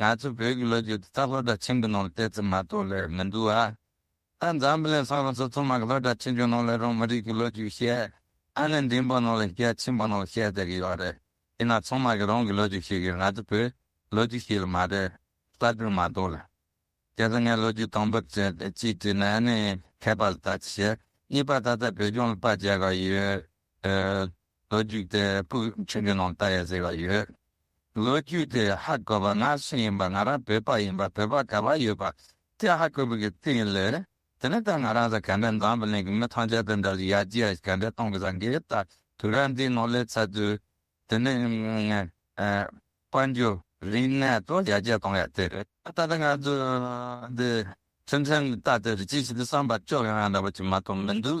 ང་ཚོ་བོད་ཀྱི་ལོ་རྒྱུས་དེ་ད་ལྷོ་བྲག་ཆེན་པོའི་ནང་ལ་བལྟས་ཚོད་མ་གཏོགས་ལས་མི་འདུག་ཨ། ད་འཛམ་བུ་གླིང་ས་ལོ་སོ་ཚོད་མང་གི་ལྷོ་བྲག་ཆེན་པོའི་ནང་ལ་རང་མི་རིགས་ཀྱི་ལོ་རྒྱུས་བཤད་ཨ་ནི་འབྲིང་པོ་ནང་ལ་བཤད་ཆེན་པོ་ནང་ལ་བཤད་དེ་གི་ཡོད་རེད་ཡིན་ན་ཚང་མ་གི་རང་གི་ལོ་རྒྱུས་ཤིག་གི་ང་ཚོ་བོད་ལོ་རྒྱུས་ཤིག་ལ་མ་རེད་གསར་འགྱུར་མ་གཏོགས་ལ། དེ་ལ་ངས་ལོ་རྒྱུས་དང་པོ་བྱས་ཏེ་གཅིག་བྲིས་ན་ཨ་ནི་མཁས་པ་ལ་ལྟ་ཅི་བྱེད་གཉིས་པ་ད་ལྟ་བོད་ལྗོངས་ལ་དཔའ་རྒྱལ་འགའ་ཡོད། ལོ་རྒྱུས་དེ་སྤུས་ཆེན་གྱི་ནང་ད་ཡོད་ཟེར་བ་ཡོད། ལོ་རྒྱུས་དེ་ཧ་གོ་བ་ང་སུ་ཡིན་པ་ང་རང་བོད་པ་ཡིན་པ་བོད་པ་ག་བ་ཡོད་པ་དེ་ཧ་གོ་བའི་གི་སྟེང་ལས་དེ་ནས་ད་ང་རང་ཟ་ག་འདྲ་འཛམ་བུ་གླིང་གི་མི་ཐམས་ཅད་དང་འདྲ་ལ་ཡར་རྒྱས་ག་འདྲ་གཏོང་གི་ཟ་འགའི་ད་དུས་རབས་འདིའི་ནང་སླེབས་ཚར་དུས་དེ་ནས་དཔལ་འབྱོར་རིག་གནས་སོགས་ཡར་རྒྱས་གཏོང་ཡག་དེ་རེད་ད་ལྟ་ང་ཚོ་འདི་ཁྲིམས་ཁྲིམས་ལྟ་དེ་རེད་ཅི་ཞིག་དེ་བསམ་པ་ཅོག་ཡང་ཡང་འདྲ་བ་ཅིག་མ་གཏོགས་མི་འདུག་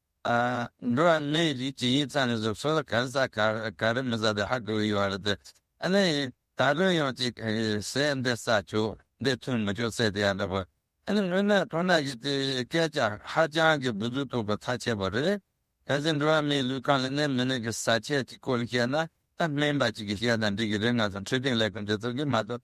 འགྲོ་བ་མིའི་རིགས་ཀྱི་ཡིག་ཚང་གི་གཟུགས་སྲོལ་གང་ཟག་ག་རེ་མི་ཟ་དེ་ཧ་གོ་གི་ཡོད་རེད་དེ། ཨ་ནི་ད་དུང་ཡང་ཅིག་ཟས་འདི་ཟ་ཆོག་འདི་འཐུང་མི་ཆོག་ཟེར་དེ་ཡང་འདྲ་པོ། ཨ་ནི་མི་སྣ་ཁོ་ན་ཡིས་དེ་སྐད་ཀྱང་ཧ་ཅང་གི་བུ་རྫུ་དོག་པོ་ཚ་ཆེ་བོ་རེད། གལ་སྲིད་འགྲོ་བ་མིའི་ལུས་ཁམས་ལ་གནས་མི་གནས་ཀྱི་ཟ་ཆས་ཀྱི་སྐོར་བཤད་ན་ད་སྨན་པ་ཅིག་གིས་བཤད་ན་འགྲིག་གི་རེད་ང་ཚོ་འཕྲོད་བསྟེན་ལས་ཁུངས་འདི་ཚོ་གིས་མ་གཏོགས་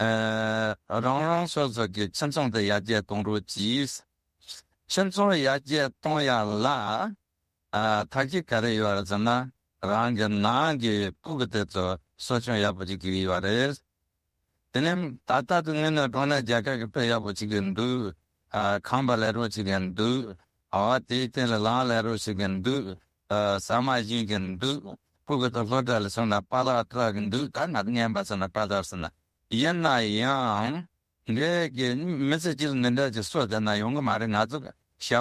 རང་རང་སོ་སོ་གི་ཁྱིམ་ཚང་དུ་ཡར་རྒྱས་གཏོང་རོགས་གྱིས། ཁྱིམ་ཚང་ཡར་རྒྱས་གཏོང་ཡག་ལ། ད་གི་ག་རེ་ཡོད་ཟེར་ན་རང་གི་ནང་གི་སྤུ་གུ་དེ་ཚོ་གསོ་སྐྱོང་ཡག་པོ་བྱེད་ཀྱི་ཡོད་རེད། དེ་ནས་ད་ལྟ་དུ་ངོས་ནས་འགྲོ་ན་རྒྱ་གར་གྱི་དཔེ་ཡག་པོ་བྱེད་ཀྱི་འདུག་ཁང་པ་ལས་རོགས་བྱེད་ཀྱི་འདུག་དེའི་སྟེང་ལ་ལམ་ལས་རོགས་བྱེད་ཀྱི་འདུག་ཟ་མ་བཞིན་གྱི་འདུག་སྤུ་གུ་དང་ལྷོ་བྲ་ལ་སོང་ན་པ་ལག་བཀྲག་གི་འདུག་ད་ང་རྔན་པ་སོང་ན་པ་ལག་སོང་ན་ཡིན་ན་ཡང་འདྲེ་གི་མི་ཚེ་སྤྱིར་འདི་འདྲ་ཅིག་སོ་དེ་ན་ཡོང་གི་མ་རེད་ང་ཚོ་བྱ་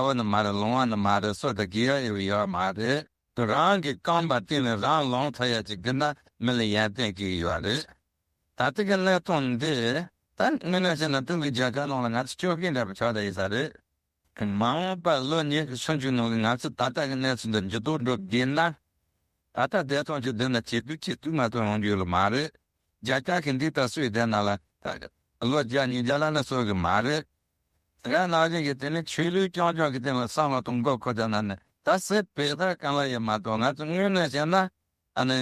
བ་ནི་མ་རེད་ལོང་བ་ནི་མ་རེད་སོ་དེ་གི་ཡ་ཡོད་ཡོད་མ་རེད་རང་གི་རྐང་པ་བཏིང་ནས་རང་ལོང་ཐོ་ཡ་ཅིག་གི་ན་མི་ལ་ཡན་ཏན་གི་ཡོད་རེད་ད་ལྟ་གི་གནས་སྟངས་འདི་ད་དངོས་གནས་བཤད་ན་ཀྲུང་གོའི་རྒྱལ་ཁབ་ནང་ལ་ང་ཚོ་སྐྱོ་གིན་འདྲ་བ་ཆོག་ད་ཡིན་ས་རེད་མ་འོངས་པ་ལོ་ཉེས་ཀྱི་ཆུང་ཆུང་ནང་གི་ང་ཚོས་ད་ལྟ་གི་གནས་ཚུལ་འདི་མཇུག་བསྡོམས་འགྲོ་བསྡད་ན། ད་ལྟ་བདེ་ཐང་གི་སྡོད་ན་ཆེད་དུ་ཆེད་དུ་ང་ཚོ་ཡོང་རྒྱུ་ཡོད་ལ་མ་རེད། བརྒྱ་ཆ་གི་འདི་ལྟར་སུས་བསྡད་ན་ལ་ལོ་བརྒྱ་ཉིས་བརྒྱ་ལ་ནི་སོས་གི་མ་རེད། དེ་ག་ནང་བཞིན་གྱི་དེ་ནི་ཆོས་ལུགས་རྐྱང་རྐྱང་གི་སྟེང་ལ་བསམ་བློ་གཏོང་སྐབས་ཁོ་ཚ་ན་ནི་ད་སེ་བེད་ལྟར་རྐང་ལག་ཡེ་མ་གཏོགས་ང་ཚོ་དངོས་གནས་བཤད་ན་ཨ་ནི།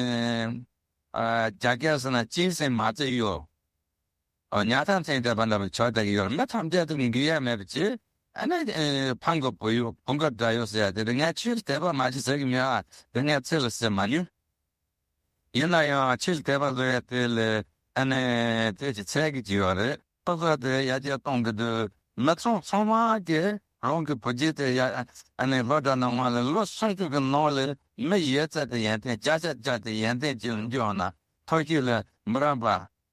རྒྱ་སྐད་ཟེར་ན་སྤྱིའི་སེམས་མ་བརྩེ་ཡོད། ཉག་ཐང་ཚེ་འདས་པ་ལ་བའི་ཆོས་དག་ཡོད་མེད་ཐམས་ཅད་དུ་འགྱུར་ཡ་མེད་པ་ཅི། ཨ་ནི། འཕང་གི་བུ་ཡོད་བུང་གི་སྒྲ་ཡོད་ཟེར་ཡ་དེ་རིང་ངས་ཆོས་དད་པ་མ་བྱེད་ཟེར་གྱི་མེད་ཨ་དེ་ངས་ཚིག་ལ་བཤད་མ་ནུས། ཡིན་ན་ཡང་ཆོས་དད་པ་བཟོ་ཡ་དེ་ལས་ཨ་ནི། དེ་ཅི་ཚད་ཀྱི་ཅི་ཡོད་རེད། ཕོ་གསར་དེ་ཡ་རྒྱལ་གཏོང་གི་འདུག་མི་ཚོང་ཚོང་མ་གི་རང་གི་བུ་རྒྱལ་དེ་ཡ་ཨ་ནི་ལོ་གྲ་ནང་མ་ལ་ལོ་སུམ་ཅུ་གི་ནང་ལ་མི་ཡོད་ཚད་དེ་ཡན་ཏན་བྱ་བྱ་བྱ་དེ་ཡན་ཏན་བྱེད་ལ་འཇུག་ན་ཐོ་ཤིག་ལ་མི་རང་པ་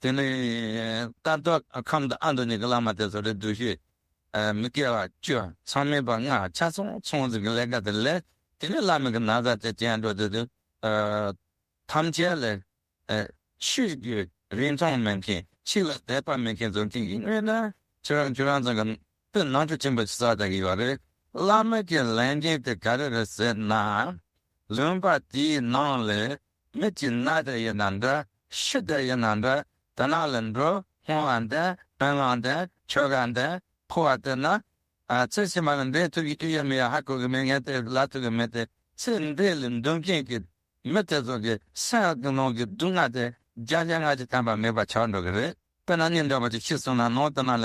དེ་ནས་རྟ་བདག་ཁམས་དང་ཨ་མདོ་གཉིས་ཀྱི་བླ་མ་དེ་ཚོ་རེ་འདུ་ཤེས་མི་དགེ་བ་བཅུ་ཚང་མེད་པར་སྔགས་ཕྱག་ཚོང་ཚོང་ཟིན་གྱི་ལས་ཀ་དེ་ལས་དེ་ནས་བླ་མེད་ཀྱི་ན་བཟའ་དེ་བྱས་འགྲོ་དེ་དུས་ཐམས་ཅད་ལས་ཆོས་བརྒྱུད་རིན་ཐང་མེད་མཁན་ཆོས་ལ་དད་པ་མེད་མཁན་ཚོ་མཁྱེན་གྱི་ངེས་ན་ཁྱེད་རང་ཁྱེད་རང་ཚང་གི་དུས་ནང་ཆོས་ཆེན་པོ་ཆེ་ས་དག་ཡོད་རེད་བླ་མེད་ཀྱི་ལས་འགན་དེ་ག་རེ་རེད་ཟེར་ན་ལུང་པ་དེའི་ནང་ལས་མི་གཅིག་གནའ་དེར་ཡོད་ན་འདྲ་ཤི་དེར་ཡོད་ན་འདྲ་དེ་ན་ལ་འགྲོ་སྔོན་བ་འདི་དོན་བླངས་འདི་ཆོལ་ཁ་འདི་ཕོ་བ་དེ་ན་ཚེ་ཕྱི་མ་ལ་འདྲེས་ཐུབ་ཀྱི་ཡོད་མི་ཡོད་ཧ་གོ་གི་མེད་ངས་དེ་ལབ་ཐུབ་ཀྱི་མེད་དེ་ཚེ་འདི་ལ་འདུམ་མཁན་གྱི་མི་དེ་ཚོ་གི་སེམས་གི་ནང་གི་སྡུག་བསྔལ་དེ་རྒྱ་ཆེན་སྔ་ཕྱི་ཐམས་པ་མེད་པ་ཆགས་འགྲོ་གི་རེད་དཔེར་ན་སྙིང་འདྲ་བོ་ཅིག་ཤི་སོང་ན་ནང་དེ་ན་ལ་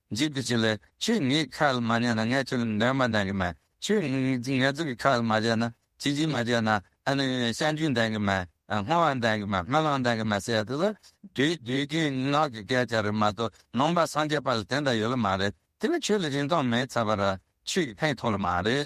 འཇིག་ཏུ་བྱེད་ལ། ཁྱོད་ངའི་ཁ་ལ་མ་ཉན་ན་ངས་ཁྱོད་ལ་འདོན་མ་འདོན་གི་མེད། ཁྱོད་ངལ་རྩོལ་གྱི་ཁ་ལ་མ་བྱས་ན་བྱིལ་བྱིལ་མ་བྱས་ན་ཨ་ནི་བཤའ་འཇུག་འདོན་གི་མེད། སྔོ་བ་འདོན་གི་མེད་སྨོན་ལམ་འདོན་གི་མེད་ཟེར་ཡོད་ལ། དུས་དུས་རྒྱུན་ངག་གི་སྐད་ཆ་རེད་མ་གཏོགས་ནོངས་པ་སངས་རྒྱས་པ་ལ་དེ་འདྲ་ཡོད་ལ་མ་རེད། དེ་ལ་ཁྱོད་ལ་རིན་ཐང་མེད་ཚར་བ་ར་ཁྱོད་ཀྱི་ཕན་ཐོག་ལ་མ་རེད།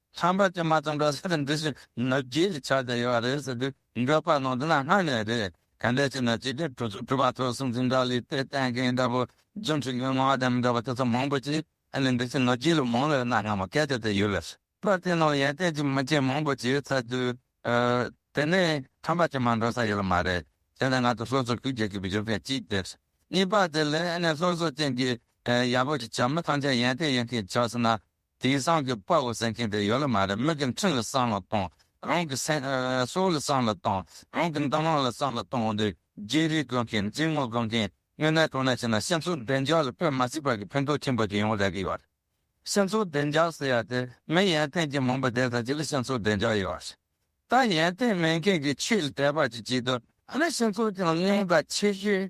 ཚངས་པ་ཅན་མ་ཚང་པའི་ས་རུ་འདི་བཞིན་ནུབ་རྒྱུའི་ཆ་དེ་ཡོད་པ་རེད་ཟེར་དུས་འགྲོ་པ་ནང་དུ་ན་སྔ་ནས་རེད་ག་འདྲས་བྱས་ན་སྤྱི་དོན་གྲོས་ཚོགས་གྲུབ་པ་ཚོ་སྲིད་འཛིན་འདྲ་ལི་ཏེ་བསྟན་མཁན་འདྲ་བོ་རྫུན་ཁྲིགས་མི་མང་བདེན་མི་འདྲ་བ་དེ་ཚོ་མང་པོ་ཅི་ཨ་ནི་འདི་བཞིན་ནུབ་རྒྱུའི་ལུགས་མང་བས་ན་སྔ་མོ་གལ་ཏེ་དེ་ཡོད་ལས་པར་དེ་ནང་ཡན་ཏན་གྱི་མི་ཆེན་མང་པོ་ཅིག་ཚར་དུས་དེ་ནས་ཚངས་པ་ཅན་མ་འགྲོ་ས་ཡོད་ལ་མ་རེད་དེ་ནས་ང་ཚོ་སོ་སོར་ཤུགས་རྒྱག་གི་བཞུགས་མཁན་གཅིག་དེ་རེད་གཉིས་པ་དེ་ལས་ཨ་ནི་སློབ་གསོ་ཅན་གྱི་ཡག་པོ་ཞིག་བྱ་མི་ཐང་ཆད་ཡན་ཏན་ཡིན་མཁན་ཆགས་སོང་ན་དེང་སང་གི་དཔའ་བོ་ཟེར་མཁན་དེ་ཡོད་ལ་མ་རེད་མི་གི་འཕྲིན་ལ་བསམ་ལ་གཏོང་རང་གི་སྲོག་ལ་བསམ་ལ་གཏོང་རང་གི་འདམ་ར་ལ་བསམ་ལ་གཏོང་འདི་རྒྱལ་རིགས་དགོས་མཁན་རྫིག་ངོ་དགོས་མཁན་དངོས་གནས་དོ་སྣང་བྱེད་ན་སྤྱི་ཚོགས་བདེ་འཇགས་ལ་ཕན་མ་སྲིད་པ་གི་ཕན་ཐོག་ཆེན་པོ་ཞིག་ཡོང་རེ་གི་ཡོད་སྤྱི་ཚོགས་བདེ་འཇགས་ཟེར་ཡ་དེ་མི་ཡན་ཏན་གྱི་མང་པོ་བསྡད་ས་ཅིག་ལ་སྤྱི་ཚོགས་བདེ་འཇགས་ཡོད་ད་ཡན་ཏན་མེད་མཁན་གི་ཆོས་ལ་དད་པ་ཅིག་བྱེད་དུས་ཨ་ནི་སྤྱི་ཚོགས་ཀྱང་རྙོག་དྲ་ཆེ་ཤོས་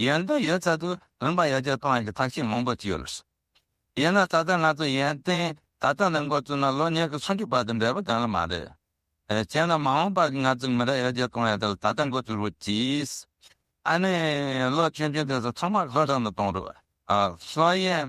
ཡོན་ཏན་ཡོད་ཚད་དུ་རིམ་པ་ཡར་རྒྱས་གཏོང་ཡག་གི་ཐབས་ཤེས་མང་པོ་བྱས་ཡོད་ལ། ཡིན་ན་ད་ལྟ་ང་ཚོ་ཡོན་ཏན་ད་ལྟ་ནས་འགོ་བཙུགས་ན་ལོ་ཉེར་དགུ་སུམ་ཅུ་བར་དུ་འབྲས་བུ་ལྡན་ལ་མ་རེད། བྱས་ན་མ་འོངས་པར་ང་ཚོའི་མི་རབས་ཡར་རྒྱས་གཏོང་ཡག་དེ་ལ་ད་ལྟ་འགོ་བཙུགས་རོགས་གྱིས། ཨ་ནི། ལོ་ཆུང་ཆུང་དེ་ཚོ་ཚང་མ་ལྷོ་བྲག་ནས་གཏོང་རོགས། ལྷོ་ཡན།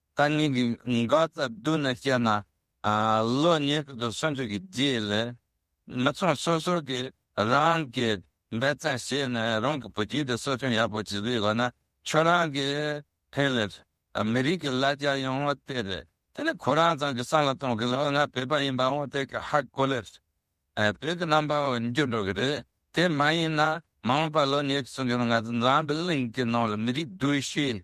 རྟ་རྙིང་གི་འགག་རྩ་བསྡུ་ན་སྤྱད་ན། ལོ་ཉེར་དྲུག་ཏུ་སོན་ཚུལ་གྱི་རྗེས་ལས། མི་ཚོགས་སོ་སོ་གིས་རང་གི་འབད་བརྩོན་བྱས་ནས་རང་གི་བུ་རྒྱུད་དེ་གསོ་སྐྱོང་ཡག་པོ་བྱེད་པའི་འོག་ན་ཁྱོད་རང་གི་ཕན་ལས། མི་རིགས་ཀྱི་ལ་རྒྱ་ཡོང་བ་དེ་རེད། དེ་ནི་ཁོ་རང་ཚང་གི་བསམ་བློ་གཏོང་གི་ལོ་ལྔ་བོད་པ་ཡིན་པའང་དེ་ག་ཧ་གོ་ལེར། བོད་ཀྱི་རྣམ་པའང་འགྱུར་འགྲོ་གི་རེད། དེ་མ་ཡིན་ན་མ་འོངས་པར་ལོ་ཉེར་གསུམ་གྱི་ནང་ང་ཚོ་འཛམ་བུའི་གླིང་གི་ནང་ལ་མི་རིགས་བསྡུས་ཤོས་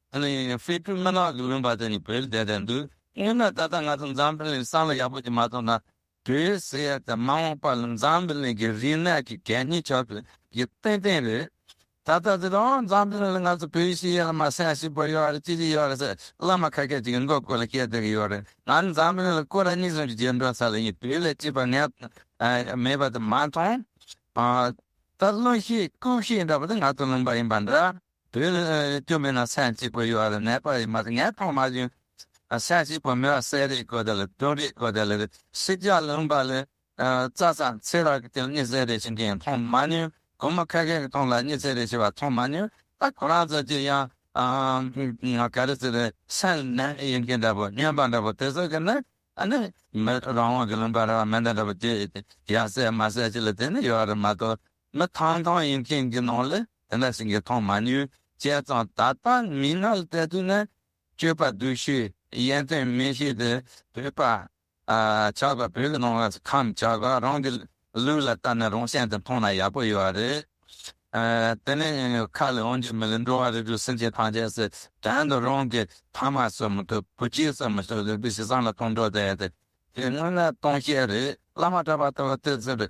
ཨ་ནི་ཧྥེ་སྤྲུལ་སྨན་ལགས་ཀྱི་དབེན་པ་དེ་ནི་བོད་ལས་བསྡད་བསྡད་འདུག་དངོས་ན་ད་ལྟ་ང་ཚོ་འཛམ་བུ་གླིང་སྲང་ལ་ཡག་པོ་ཅིག་མ་ཐོབ་ན་བོད་ཟེར་ཡ་དེ་མ་འོངས་པ་ལ་འཛམ་བུ་གླིང་གི་རིག་གནས་ཀྱི་གད་སྙིགས་ཆགས་པའི་གི་ཏན་ཏན་རེད་ད་ལྟ་དེ་ལ་འོང་འཛམ་བུ་གླིང་ལ་ང་ཚོ་བོད་ཤེས་ཡ་ལ་མ་སེམས་ཤིག་པོ་ཡོད་རེད་ཅི་ཞིག་ཡོད་རེད་ཟེར་བླ་མ་ཁ་ཁད་ཅིག་གི་མགོ་སྐོར་ལ་བསྐྱལ་བསྡད་ཀྱི་ཡོད་རེད་ང་ནི་འཛམ་བུ་གླིང་ལ་སྐོར་ལ་སྙིགས་ཟོམ་གྱི་རྗེས་འགྲོ་ས་ལ་ཡིན་བོད་ལས་སྐྱིད་པ་ངས་མེད་པ་དེ་མ་མཐོང་ད་བླུན་ཤེས་རྐུབ་ཤེས་འདྲ་པོ་དེ་ང་ཚོ་ལུང་པ་ཡིན་པ་འདྲ། དེ་ལས་སྐྱོན་མེད་ན་སེམས་གཅིག་པོ་ཡོད་ལ་ནད་པ་ཡི་མ་ངན་ཐོག་མ་བཞིན་སེམས་གཅིག་པོ་མེད་པར་བསད་རེས་གོ་དེ་ལ་བསྟུན་རེས་གོ་དེ་ལ་ཤི་རྒྱག་ལུང་པ་ལས་རྩ་ཚང་ཚེ་རག་གི་སྟེང་གཉིད་སད་རེས་བྱེད་མཁན་མཐོང་མ་མྱོང་གུང་མོ་ཁ་ཁའི་སྟེང་ལ་གཉིད་སད་རེས་བྱེད་པ་མཐོང་མ་མྱོང་ད་ཁོ་རང་ཚོ་གཅིག་ཡང་ག་རེ་ཟེར་རེས་སེམས་ནད་ཡིན་མཁན་འདྲ་པོ་སྨྱོན་པ་འདྲ་པོ་དེ་ཚོ་གི་ནི་ཨ་ནི་མི་རང་དབང་གི་ལུང་པ་ར་བ་མི་འདྲ་འདྲ་པོ་བརྒྱད་ཡོད་དེ་ཡང་སད་མ་སད་ཅི་ལ་དེ་ནི་ཡོད་རེད་མ་གཏོགས་མི་ཐང་ཐང་ཡིན་མཁན་གྱི་ནང་ལ་དེ་འདྲ་ཞིག་གི་མཐོང་མ་མྱོང། བྱས་ཙང་ད་ལྟ་མིག་སྔར་བལྟས་དུས་ན་སྤྱོད་པ་སྡུག་ཤོས་ཡན་ཏན་མི་ཤེས་ཏེ་བོད་པ་ཆགས་པ་བོད་ཀྱི་ནང་ལ་ཁམས་ཆགས་པ་རང་གི་ལུས་ལ་བལྟ་ན་རང་གཞན་དུ་མཐོང་ན་ཡག་པོ་ཡོད་རེད། དེ་ནས་ཁ་ལས་འོང་རྒྱུ་མི་ལ་འགྲོ་བ་རིགས་དྲུག་སེམས་ཅན་ཐམས་ཅད་སྲིད་དོན་དུ་རང་གི་ཕ་མ་གསོད་མི་ཐུབ་བུ་སྐྱེས་གསོད་མི་ཐུབ་ལུས་པོ་ཞེ་སངས་ལ་ཐོང་འགྲོ་བསྡད་དེ་དེ་སྔོན་ལ་སྟོང་བཤད་རེད་བླ་མ་གྲྭ་པ་ལྟ་བུ་སྟེ་ཟེར་བའི་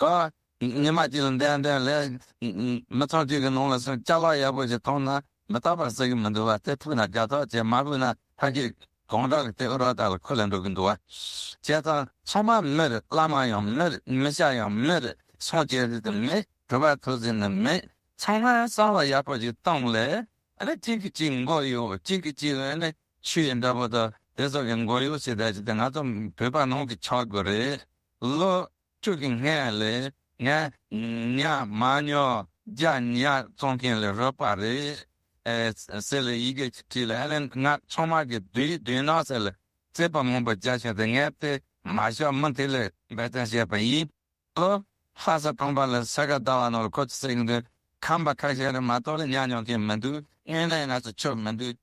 ག། ཉི་མ་གཅིག་ལ་འདི་ཡང་འདི་ཡང་ལས། མི་ཚོགས་གཅིག་གི་ནང་ལ་སོང་ལྕགས་ལག་ཡག་པོ་ཞིག་མཐོང་ན་མི་རྟག་པར་ཟ་གི་མི་འདུག་བ་དེ་ཐུག་ན་རྒྱ་ཐོག་ཅེས་མ་བོས་ན་ཕ་སྐད་གང་དྲག་གི་དེ་ཨུ་རོགས་དག་ལ་ཁུ་ལ་འགྲོ་གི་འདུག་བ། བྱས་ཙང་ཚང་མ་མི་རེད་བླ་མ་ཡང་མི་རེད་མི་ཤ་ཡང་མི་རེད་སངས་རྒྱས་རེད་དུ་མེད་གྲུ་པ་ཐུགས་རྗེ་ནི་མེད་ཚང་མ་གསང་བ་ཡག་པོ་ཞིག་བཏང་ལས་ཨ་ནི་གཅིག་གིས་གཅིག་མགོ་གཡོག་གཅིག་གིས་གཅིག་ཨ་ནི་ཆུ་ཡི་འདྲ་པོ་དག་དེ་ཚོ་གི་མགོ་གཡོག་བྱེད་བསྡད་ཅིག་དེ་ང་ཚོ་བོད་པ་ནང་གི་ཆག་སྒོ་རེད། ལོ་དྲུག་གི་སྔས་ལས་ངས་ཉག་མ་ཉོ་རྒྱ་ཉག་བཙོང་མཁན་ལས་རོལ་པ་རེད། ཟེར་ལས་ཡི་གེ་བྲིས་ལ་ཧ་ལས་ང་མཚོ་དམག་གི་བདུད་ཡིག་བདུན་ནོ་ཟེར་ལས་རྩེད་པ་མང་པོ་རྒྱག་བཞིན་དེ་ངས་དེ་མ་ཤོར་མིན་དེ་ལས་འབད་བརྩོན་བྱས་པ་ཡིན། ལོ་ལྷ་ས་གྲོང་པ་ལ་ས་ག་ཟླ་བ་ནོར་ཁོ་ཚོ་ཟེར་གྱི་འདུག་ཁམས་པ་ཁ་ཤས་རེད་མ་གཏོགས་ལ་ཉག་ཉོ་མཁན་མི་འདུག་དངོས་གནས་ང་ཚོ་ཆོས་མི་འདུག།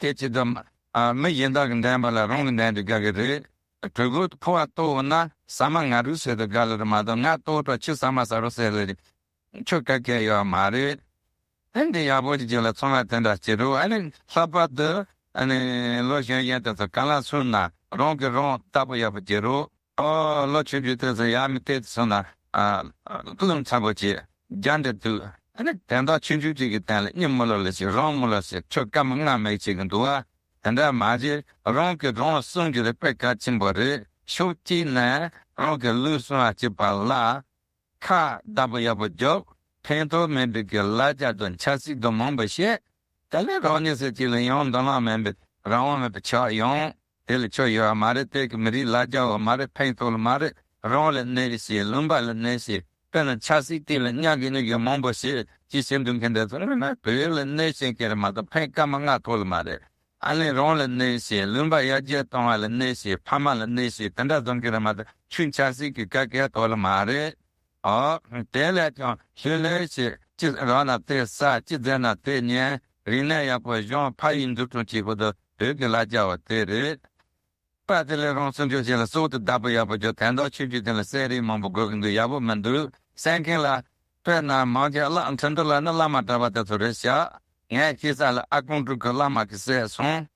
དེ་ཅི་ཙམ་མི་གཞན་དག་གི་འགྲན་པ་ལ་རང་གི་འགྲན་དུ་དགའ་གི་རེད། གྲོད་ཁོག་ཏུ་ཕོ་བ་ལྟོ་བུ་ན་ཟ་མ་ང་རུས་ཟེར་དུ་དགའ་ལེ་རེད་མ་གཏོགས་ང་ལྟོ་བུ་དྲག་ཆུ་ཟ་མ་ཟ་རུ་ཟེར་ལེ་རེད་ཁྱོད་དགའ་གལ་ཡོད་མ་རེད། ཨ་འདི་ཡག་པོ་ཞིག་བྱས་ལ་ཚོང་ར་དེ་འདྲ་བྱེད་རོགས་ཨ་ནི་ལྷག་པར་དུ་ཨ་ནི་ལོ་གཞོན་གཞོན་དེ་ཚོ་ག་ལ་སུན་ན་རང་གིས་རང་ལྟ་པོ་ཡག་པོ་བྱེད་རོགས། ཨོ། ལོ་བཅུ་དྲུག་དུས་སུ་ཡང་མི་སྟེར་དུ་སོང་ན། སྐུ་ལུམས་ཚ་པོ་ཆེ་རྒྱ་འདྲེ་འདུག། དེང་སྟོང་ཆུང་ཆུང་གཅིག་གི་སྟེང་ལ་གཉིད་སྨུག་ལོག་ལོག་བྱེད་རོང་སྨུག་ལོག་བྱེད་ཁྲོད་སྐམ་སྔ་མེད་ཅིག་གི་འདུག་ཨ། དེ་འདྲ་མ་བྱེད་རང་གི་རང་ལ་བསྲུང་རྒྱུ་རེད་པས་གལ་ཆེན་པོ་རེད་ཤོག་གཅིག་ནས་རང་གི་ལུས་བསྲུང་བ་བྱེད་པ་ལ་ཁ་བརྡ་པོ་ཡག་པོ་རྒྱོབ། ཕན་ཐོག་མེད་པའི་གི་ལ་རྒྱ་དང་ཆབ་སྲིད་དང་མང་པོ་བཤད། དེ་ལས་རང་ཉིད་ཟེར་གཅིག་ལ་ཡང་མདོ་ལམ་མིན་པའི་རང་དབང་མེད་པའི་ཆགས་ཡོང། དེ་ལ་ཆོས་ཡོད་བ་མ་རེད་བོད་ཀྱི་མི་རིགས་ལ་རྒྱ་བ་མ་རེད་ཕན་ཐོག་ལ་མ་རེད་རང་ལ་གནས་རི་ཞེས་ལུང་པ་ལ་གནས་ཞེས་དཔེར་ན་ཆབ་སྲིད་སྟེང་ལ་གཉའ་གི་ནུ་གི་མང་པོ་ཞེས་ཅི་བྱེད་འདུག་མཁན་དེ་ཚོ་དངོས་གནས་བོད་ལ་གནས་ཤེས་མཁན་རེད་མ་གཏོགས་ཕན་སྐད་མ་མངའ་ཐོག་ལ་མ་རེད་ཨ་ལེ་རང་ལ་གནས་ཞེས་ལུང་པ་ཡར་རྒྱས་གཏོང་བ་ལ་གནས་ཞེས་ཕ་མ་ལ་གནས་ཞེས་དེ་འདྲ་བཟོ་མཁན་རེད་མ་གཏོགས་ཆུ་འཆར་སྲིད་ཀྱི་སྐད་སྐད་ཐོག་ལ་མ་རེད་དེ་ལས་ཀྱང་ཞུས་ལེ་ཞིག་ཅི་རག་ན་དེ་ཟ་ཅི་རྫས་ན་དེ་ཉན་རིག་ནས་ཡག་པོ་གཞོན་ཕ་ཡིས་འཛུགས་སྐྲུན་བྱེད་པོ་དུ་བོད་ཀྱི་ལ་རྒྱ་བ་དེ་རེད། པ་དེ་ལས་རང་སྲུང་རྒྱུ་ཞིག་ལ་སྲོག་ཏུ་བདག་པོ་ཡག་པོ་རྒྱུ་དེ་འདྲ་ཆོས་བརྒྱུད་དེ་ལ་གསལ་རིག་མང་པོ་དགོས་ཀྱི་འདུག་ཡག་པོ་མི་འདུག་གསལ་མཁན་ལ། དཔེར་ན་མང་རྒྱལ་བླ་འཕྲིན་འདུ་ལ་ནི་བླ་མ་གྲྭ་པ་དེ་ཚོ་རེད་བཞག་ངས་ཤེས་ས་ལ་ཨ་ཀོང་དྲུག་གི་བླ་མ་གི་སྲས་གསུངས།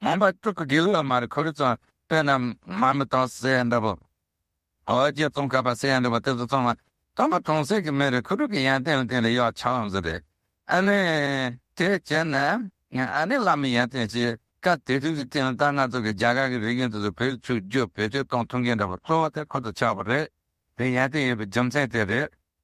མོན་པ་སྤྲུལ་སྐུ་དགེ་ལུགས་མར་ཁུ་རུ་ཙང་བསྟན་རྣམས་མ་མི་དང་སེ་ཡན་འདྲ་བོ། ཨོ་རྒྱན་ཙོང་ཁ་པ་སེ་ཡན་འདྲ་བོ་དེ་ཚོ་ཚང་མ་དམ་པ་གྲོང་གསེབ་ཀྱི་མི་རེད་ཁུ་དྲུག་གི་ཡན་ཏན་ལ་དེ་ལས་ཡག་ཆ་ལམ་ཟེར་རེད་ཨ་ནི། དེ་བྱས་ན་ང་ཨ་ནི་བླ་མའི་ཡན་ཏན་ཞེས་ཀ་དེ་དུས་ཀྱི་སྟེང་ལ་ད་ང་ཚོ་གི་རྒྱ་གར་གི་རིགས་ཡུན་དུ་ཚོ་བོད་ཕྱུག་རྒྱུ་བེད་སྤྱོད་གཏོང་ཐུབ་མཁན་འདྲ་བོ་གཙོ་བོ་དེ་ཁོ་ཚོ་ཆགས་པ་རེད་དེ་ཡན་ཏན་ཡོད་པའི་རྒྱུ་མཚན་དེ་རེད།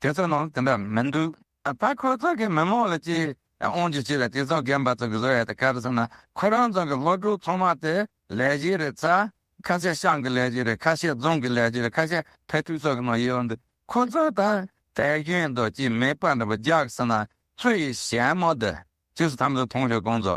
དེ་ཚོའི་ནང་དེ་འདྲ་མི་འདུག་ད་ཁོ་ཚོ་གི་མི་མང་ལ་ཅི་དབང་ཅི་བྱས་པའི་དེ་ཚོ་རྒན་པ་ཚོ་གི་བཟོ་ཡ་ད་ག་རེ་ཟེར་ན་ཁོ་རང་ཚོ་གི་སློབ་ཕྲུག་ཚང་མ་དེ་ལས་གཞི་རེད་ཚ་ཁ་ཤས་ཤང་གི་ལས་གཞི་རེད་ཁ་ཤས་རྫོང་གི་ལས་གཞི་རེད་ཁ་ཤས་བེ་ཐུ་སོག་གི་ནང་ཡོད་འདུག་ཁོ་ཚོ་ད་དལ་གྱོན་འདུག་ཅི་མེད་པ་འདྲ་པོ་རྒྱག་ཟེར་ན་ཚོ་ཡི་ཞལ་མོ་དེ་ཅི་སུ་ཐམས་ཅད་མཐོང་ཞོག་གོང་ཚོ་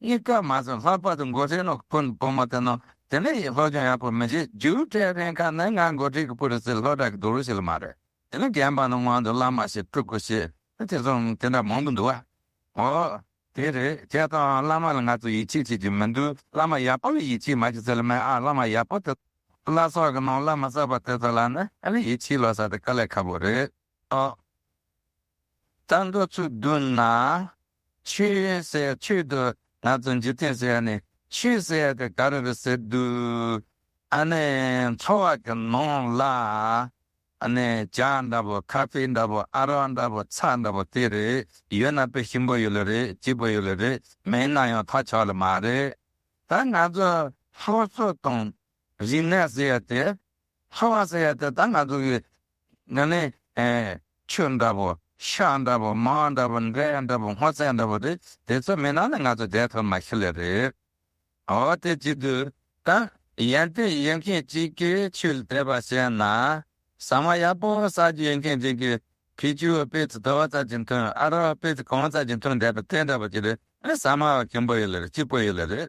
གཉིས་ཀ་མ་ཚང་ལྷག་པར་དུ་མགོ་ཁྲིད་ནང་ཁུལ་གྱི་བུ་མོ་དེ་ནང་དེ་ནས་ཡིན་ལྷོད་གཡེང་ཡག་པོ་མི་བྱེད་རྒྱུའི་གྲས་རེ་འགའ་ནི་ང་མགོ་ཁྲིད་ཀྱི་བུ་རེད་ཟེར་ལྷོད་དྲག་གི་འདུག་རུ་ཞིག་ལ་མ་རེད་དེ་ནི་རྒན་པ་ནི་སྔོན་དུ་བླ་མ་ཞིག་སྤྲུལ་སྐུ་ཞེས་དེ་མཚུངས་མི་དེ་འདྲ་མང་དུ་འདུག་བ། འོ། དེ་རེད་ཁྱེད་དང་བླ་མ་ལ་ང་ཚོ་ཡིད་ཆེས་བྱེད་ཀྱི་མི་འདུག་བླ་མ་ཡག་པོ་ལ་ཡིད་ཆེས་མ་བྱེད་ཟེར་ལ་མེད་ཨ་བླ་མ་ཡག་པོ་དེ་བླ་སྲོག་གི་ནང་བླ་མ་གསར་པ་དེ་ཚོ་ལ་ནི་ཨ་ལས་ཡིད་ཆེས་ལོས་ས་དེ་དཀའ་ལས་ཁ་པོ་རེད་ཨོ། ད་འགྲོ་ཚུལ་བསྡུ་ན་ཆོས་ཟེར་ཡ་ཆོས་དུ་ང་ཚོ་འཇིག་རྟེན་ཟེར་ཡ་ནི་ཆོས་ཟེར་ཡ་དེ་ག་རེ་རེད་ཟེར་དུས། ཨ་ནི་འཚོ་བ་གི་ནང་ལ་ཨ་ནི་བྱ་འདྲ་པོ་ཁ་ཕི་འདྲ་པོ་ཨ་རོག་འདྲ་པོ་ཚ་འདྲ་པོ་དེ་རེད་ཡོད་ན་དཔེ་ཞིམ་པོ་ཡོད་ལེ་རེད་སྐྱིད་པོ་ཡོད་ལེ་རེད་མེད་ན་ཡང་ཐག་ཆོད་ལེ་མ་རེད། ད་ང་ཚོ་སོ་སོ་དང་རིག་གནས་ཟེར་ཡ་དེ་ལྷ་བ་ཟེར་ཡ་དེ་ད་ང་ཚོ་གི་ང་ནི་ཆོས་འདྲ་པོ་ཤ་འདྲ་པོ་མ་འདྲ་པོ་འདྲེ་འདྲ་པོ་སྔོ་ཚལ་འདྲ་པོ་རེད་དེ་ཚོ་མེད་ན་ནི་ང་ཚོ་འདས་ཐོར་མ་ཤི་ལེ་རེད་ཨོ་དེ་བརྗེད་དུས་ད་ཡན་ཏན་ཡོད་མཁན་ཅིག་གི་ཆོས་དད་པ་བྱས་ན་ཟ་མ་ཡག་པོ་ཟ་རྒྱུ་ཡོད་མཁན་ཅིག་གི་ཕི་ཇུ་སྤེ་ཚི་དོ་བ་ཙར་གྱི་མཐུན་ཨ་རོ་སྤེ་ཚི་གོང་ཙར་གྱི་མཐུན་འདྲ་པོ་དེ་འདྲ་པོ་ཅིག་རེད་ཨེ་ཟ་མ་བ་གིང་པོ་ཡོད་ལེ་རེད་སྐྱིད་པོ་ཡོད་ལེ་རེད་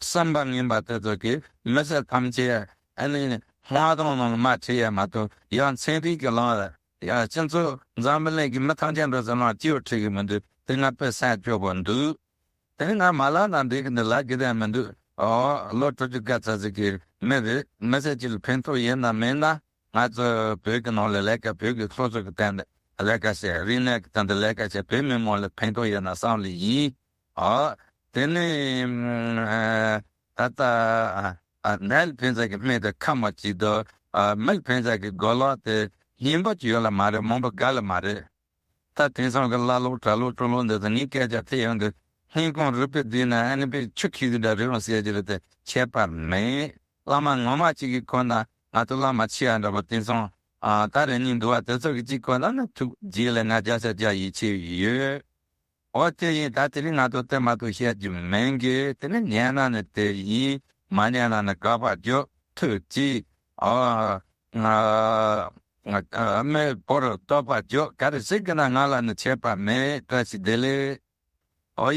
བསམ་པ་ངན་པ་དེ་ཚོ་གིས་མི་སེར་ཐམས་ཅད་ཨ་ནི་ལྷ་སྟོང་ནང་དམར་ཁྲིད་ཡས་མ་ཐུབ་ཡང་ཚན་རིག་གི་ལམ་ཡང་སྤྱི་མཚོ་འཛམ་བུ་གླིང་གི་མི་ཐམས་ཅད་འགྲོ་ཚུལ་ནང་སྐྱིད་བོ་ཁྲིད་གི་མི་འདུག་དེ་སྔ་དཔེ་གསལ་བཅོས་པོ་འདུག་དེ་སྔ་མ་ལ་ན་འདི་གི་འདི་ལ་གི་དེ་མི་འདུག་ཨོ་ལོ་དྲུག་ཅུ་ག་ཚ་ཚིག་གི་མི་རེད་མི་སེར་གཅིག་ལ་ཕན་ཐོག་ཡིན་ནམ་མེད་ན་ང་ཚོ་བོད་གི་ནང་ལ་ལས་ཀ་བོད་གི་སོ་སོ་གི་དེ་འདི་ལས་ཀ་བྱེད་རིག་གནས་གི་དེ་འདི་ལས་ཀ་བྱེད་བོད་མི་མང་ལ་ཕན་ཐོག་ཡིན་ན་བསམ་ལེ་ཡིན་དེ་ནས་ད་ལྟ་ནལ་བོན་ཟེར་གྱི་སྨད་དུ་ཁ་མ་གཅིག་དུ་མལ་བོན་ཟེར་གྱི་དགོན་ལོག་དེ་ཉིན་པ་ཅིག་ཡོད་ལ་མ་རེད་མོན་པ་འགའ་ལ་མ་རེད་ད་དེང་སང་གི་བླ་ལོག་གྲྭ་ལོག་སྤྲུལ་ལོག་འདི་ཚོ་ནི་སྐད་ཆ་ཐད་ཡང་དུ་ཧིན་ཀོང་རུས་པའི་དུས་ན་ཨ་ནི་པའི་ཆུ་ཁྱི་གི་འདྲ་རེད་རུང་ཟེར་གྱི་རེད་དེ་ཁྱད་པར་མེད་བླ་མ་ངོ་མ་གཅིག་གི་གོ་ན་ང་ཚོ་བླ་མ་ཕྱི་ཡ་འདྲ་པོ་དེང་སང་ད་རེ་གཉིས་འདུག་བ་དེ་ཚོ་གི་གཅིག་གོ་ན་ནི་ཐུགས་རྗེ་ལས་ང་བརྒྱ་ཆ་བརྒྱ་ཡིད་ཆེས་ཡོད་འོ་དེ་ཡིན་ད་དེ་རིང་ང་ཚོ་དེ་མ་ཐུག་བཤད་རྒྱུ་མིན་གི་དེ་ནི་ཉན་ན་ནི་དེ་ཡིན་མ་ཉན་ན་ནི་ག་པར་བརྗོད་ཐུབ་ཀྱི། ཨ་མའི་བུར་བསྟོད་པ་བརྗོད་ག་རེ་ཞིག་གི་ན་ང་ལ་ནི་ཆད་པ་མེད་བཀྲ་ཤིས་བདེ་ལེགས། ཨོ་ཡ།